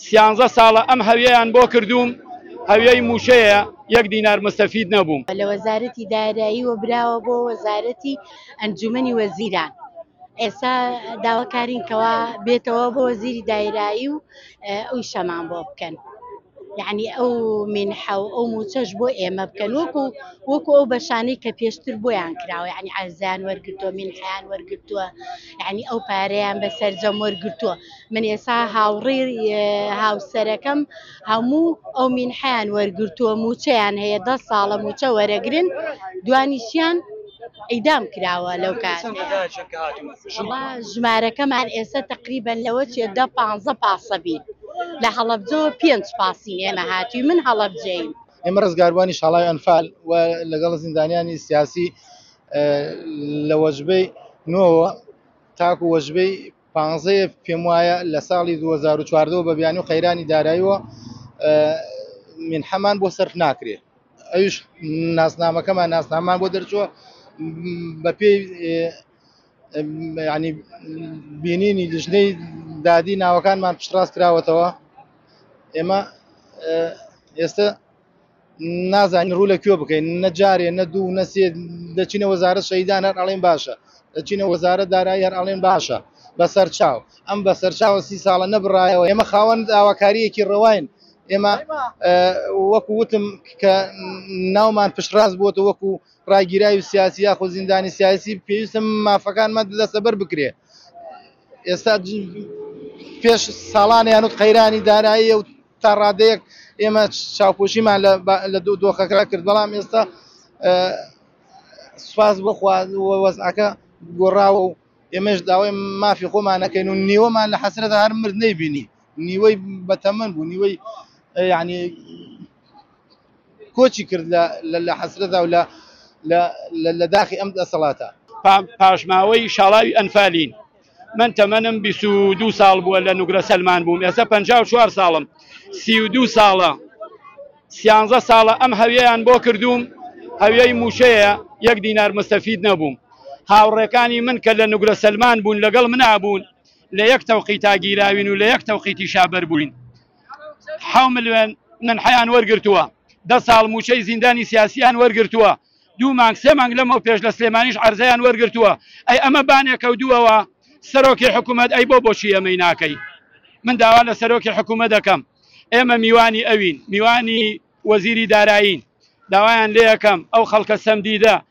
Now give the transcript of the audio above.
سیانزە ساڵە ئەم هەویەیان بۆ کردووم هەویەی مووشەیە یەک دینار مستەفید نەبووم. لە وەزارەتی داراییەوە براوە بۆ وەزارەتی ئەنجوومەنی وەزیران ئێستا داواکارین کەوا بێتەوە بۆ وەزیری دایرایی و ئەوی شەمان بۆ بکەن یعنی ئەو مینحە و ئەو موچەش بۆ ئێمە بکەن وەکو وەکو ئەو بەشانەی کە پێشتر بۆیان کراوە یعنی ئازیان وەرگتووە مینحیان وەرگتووە یعنی ئەو پارەیان بە سەرجەم وەرگتووە من ئێسا هاوڕی هاوسەرەکەم هەموو ئەو مینحیان وەرگرتووە موچەیان هەیە دە ساڵە موچە وەرەگرن دوانیشیان ئیدام کراوە لەو کار ژمارەکەمان ئێستا تقریبان لەوە چێ دە پ پاسەبی لە هەڵبجۆ پێنج پاسی ئێمە هاتی من هەڵبجین ئێمە ڕزگاربووانی شڵای ئەنفال و لەگەڵ زیندانیانی سیاسی لە وەجبەی نۆوە تاکو وەجبەی پانزەیە پێم وایە لە ساڵی دوو هەزار و چواردە و بە بیانوی و قەیرانی داراییەوە منحەمان بۆ سەرف ناکرێ ئەویش ناسنامەکەمان ناسنامان بۆ دەرچووە بە پێی ینی بینینی لیژنەی دادی ناوەکانمان پشتڕاست کراوەتەوە ئێمە ئێستا نازانین ڕوو لە کوێ بکەین نە جارێ نە دوو نە سێ دەچینە وەزارە شەیدان هەر ئەڵێن باشە دەچینە وەزارە دارایی هەر ئەڵێن باشە بەسەر چاو ئەم بەسەر چاوە سی ساڵە نەبڕایەوە ئێمە خاوەن داواکاریەکی ڕەواین ئێمە وەکو وتم کە ناومان پشتڕاست بووە وەکو ڕاگیرای و سیاسی یاخۆ زیندانی سیاسی پێویستم مافەکانمە لەسەبەر بکرێ ئێستا پێش ساڵانیان و قەیرانی دارایی و تا ڕادەیەک ئێمە چاوپۆشیمان لە لە دوو دۆخەکە کرد بەڵام ئێستا سوپاس بخوا وەزعەکە گۆڕاوە و ئێمەش داوای مافی خۆمانەکەین و نیوەمان لە حەسرەتە هەر مرد نەیبینی نیوەی بەتەمەن بوو نیوەی یعنی کۆچی کرد لە لە حەسرەتا و لە لە لە داخی ئەم دەسەڵاتە. پاشماوەی شاڵاوی ئەنفالین. من تەمەنم بیست و دوو ساڵ بووە لە نوگرە سەلمان بووم، ئێستا پەنجا و چوار ساڵم، سی و دوو ساڵە، سیانزە ساڵە ئەم هەویەیان بۆ کردووم، هەویەی مووچەیە، یەک دینار مستەفید نەبووم. هاوڕێکانی من کە لە نوگرە سەلمان بوون لەگەڵ منا بوون، لە یەک تەوقیتا گیراوین و لە یەک تەوقیتیشا بەر بووین. حەو ملیۆن نەنحەیان وەرگرتووە، دە ساڵ مووچەی زیندانی سیاسییان وەرگرتووە، دوو مانگ سێ مانگ لەمەو پێش لە سلێمانیش عەرزەیان وەرگرتووە، ئەی ئەمە بانێکە و دووەوە سەرۆکی حکوومەت ئەی بۆ بۆچی ئەمەی ناکەی؟ من داوا لە سەرۆکی حکوومەت دەکەم ئێمە میوانی ئەوین، میوانی وەزیری دارایین، داوایان لێ ئەکەم ئەو خەڵکە سەمدیدە